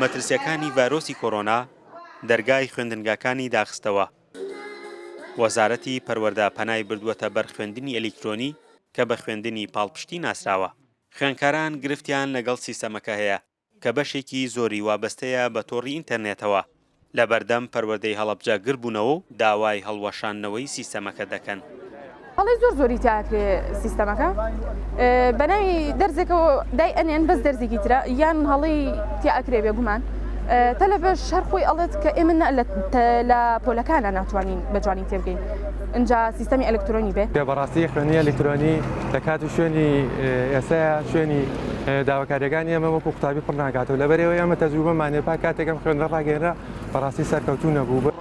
مەترسیەکانی ڤایرۆسی کۆرۆنا دەرگای خوێندنگاکانی داخستەوە، وەزارەتی پەروەردە پەنای بردووەتە بەر خوێندنی ئەلیکترۆنی کە بە خوێندنی پاڵپشتی ناسراوە. خوێندکاران گرفتیان لەگەڵ سیستەمەکە هەیە کە بەشێکی زۆری وابەستەیە بە تۆڕی ئینتەرنێتەوە، لەبەردەم پەروەردەی هەڵەبجە گل بوونەوە و داوای هەڵوەشاندنەوەی سیستەمەکە دەکەن. هەڵەی زۆر زۆری تیا ئەکرێ سیستەمەکە بەناوی دەرزێکەوە دای ئەنێن بەس دەرزێکی ترە یان هەڵەی تیا ئەکرێ بێگومان تەلەبەش هەر خۆی ئەڵێت کە ئێمە لە پۆلەکانە ناتوانین بە جوانی تێبگەین ئەجا سیستەمی ئەلکترۆنی بێ بەڕاستی خوێنی ئەلکترۆنی لە کات و شوێنی ئێستا شوێنی داواکاریەکانی ئێمە وەکو قوتابی پڕ ناکاتەوە لەبەرەوەی ئەمە تەجروبەمان هەیە پاک کاتێک ئەم خوێندنە ڕاگەیەنرا بەڕاستی سەرکەوتوو نەبوو.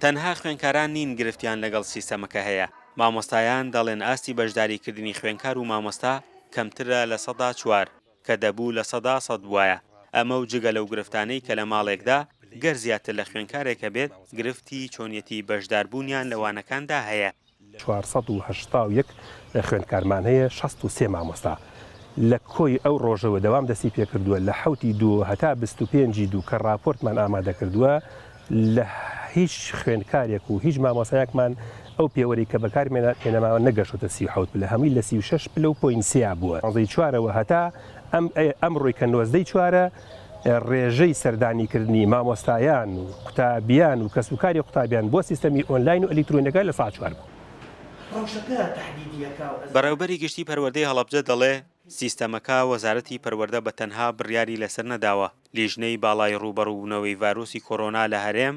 تەنها خوێندکاران نین گرفتیان لەگەڵ سیستەمەکە هەیە، مامۆستایان دەڵێن ئاستی بەشداریکردنی خوێندکار و مامۆستا کەمترە لە سەدا چوار کە دەبوو لە سەدا سەد بوایە، ئەمە و جگە لەو گرفتانەی کە لە ماڵێکدا گەر زیاتر لە خوێندکارێک هەبێت گرفتی چۆنیەتی بەشداربوونیان لە وانەکاندا هەیە. چوار سەد و هەشتا و یەک خوێندکارمان هەیە، شەست و سێ مامۆستا لە کۆی ئەو ڕۆژەوە دەوام دەستی پێکردووە، لە حەوت ی دوو هەتا بیست و پێنج ی دوو کە ڕاپۆرتمان ئامادەکردووە لە هیچ خوێندکارێک و هیچ مامۆستایەکمان ئەو پێوەرەی کە بەکارمان هێناماوە نەگەشتۆتە سی و حەوت پلە هەمووی لە سی و شەش پلە و پۆینت سێیا بووە، نۆزدە ی چوارەوە هەتا ئەمرۆی کە نۆزدە ی چوارە. ڕێژەی سەردانیکردنی مامۆستایان و قوتابیان و کەسوکاری قوتابیان بۆ سیستەمی ئۆنلاین و ئەلیکترۆنییەکە لە سەعات چوار بوو. بەڕێوبەری گشتی پەروەردەی هەڵەبجە دەڵێ، سیستەمەکە وەزارەتی پەروەردە بە تەنها بڕیاری لەسەر نەداوە، لیژنەی باڵای ڕووبەڕووبوونەوەی ڤایرۆسی کۆرۆنا لە هەرێم،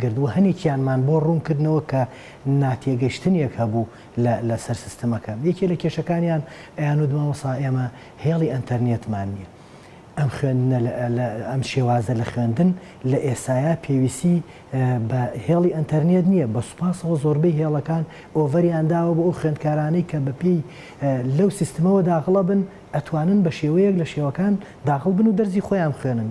گرت و هەنێکیانمان بۆ ڕوون کردنەوە کە ناتێگەشتنێک هەبوو لە سەر سیستمەکە. یەکێ لە کێشەکانیان ئەیان وت مامۆسا ئێمە هێڵی ئەنتەرنێتمان نییە. ئەم خوێندنە ئەم شێوازە لە خوێندن لە ئێستایا پێویستی بە هێڵی ئەنتەرنێت نییە، بە سوپاسەوە زۆربەی هێڵەکان ئۆڤەریان داوە بۆ ئەو خوێندکارانەی کە بە پێی لەو سیستمەوە داخڵە بن ئەتوانن بە شێوەیەک لە شێوەکان داخڵ بن و دەرزی خۆیان بخوێنن.